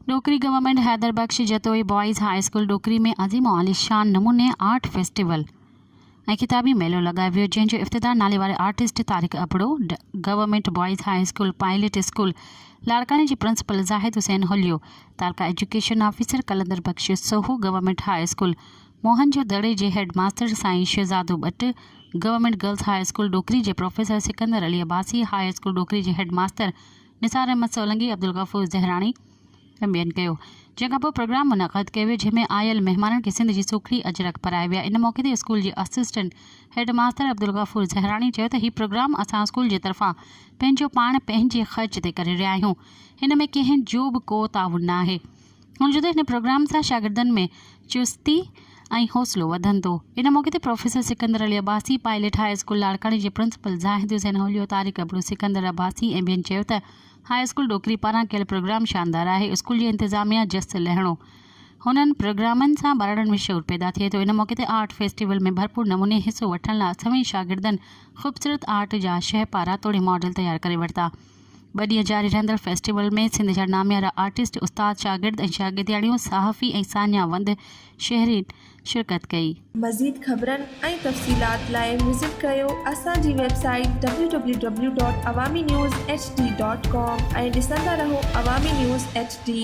Dokri government Haider Bakhsh Jatoi boys high school Dokri ۾ عظيم و عاليشان نموني آرٽ فيسٽيول ۽ خطابي ميلو لڳايو ويو جنهن جو افتتاح ناليواري artist Tariq Abro, government boys high school pilot school لاڙڪاڻي جي پرنسپل زاهد حسين هليو، تعلقه education officer Qalandar Bakhsh Soho, government high school. موهن جو دڙي جي هيڊ ماستر سائين Shahzado Butt, government girls high school Dokri جي professor Sikandar Ali Abbasi, high school Dokri جي هيڊ ماستر نثار احمد سولنگي، عبدالغفور زهراڻي ۽ ٻين ڪيو. جنهن کان پوء پروگرام منعقد ڪيو ويو، جنهن ۾ آيل مهمانن کي سنڌ جي سوکڙي اجرڪ پرائي ويا. ان موقعي تي اسڪول جي اسسٽنٽ هيڊ ماستر عبدالغفور زهراڻي چيو ته هي پروگرام اسان اسڪول جي طرفان پنهنجو پاڻ پنهنجي خرچ تي ڪري رهيا آهيون، هن ۾ ڪنهن جو به ڪو تعاون نه آهي. هن چيو ته هن پروگرام سان شاگردن ۾ چستي ۽ حوصلو وڌندو. ان موقعي تي professor Sikandar Ali Abbasi, pilot high school لاڙڪاڻي جي پرنسپل زاهد حسين هوليو، طارق ابڙو، سڪندر عباسي ۽ ٻين چيو ته هاء اسڪول ڏوڪري پاران ڪيل پروگرام شاندار آهي، اسڪول جي انتظاميا جس لهڻو هنن پروگرامن سان ٻارڙن ۾ شعور پيدا ٿئي ٿو، ان موقعي تي آرٽ فيسٽيول ۾ ڀرپور نموني حصو وٺڻ لا سوين شاگردن خوبصورت آرٽ جا شهپارا توڙي ماڊل تيار ڪري ورتا. ٻه ڏينهن جاري رهندڙ فيسٽيول ۾ سنڌ جا ناميارا آرٽسٽ، استاد، شاگرد ۽ شاگردياڻيون، صحافي ۽ ساڃاهه وند شهرين شرڪت ڪئي. مزيد خبرن ۽ تفصيلات لاء وزٽ ڪريو اسان جي website W W W dot Awami news H D dot com ۽ ڏسندا رهو عوامي نيوز ايڇ ڊي.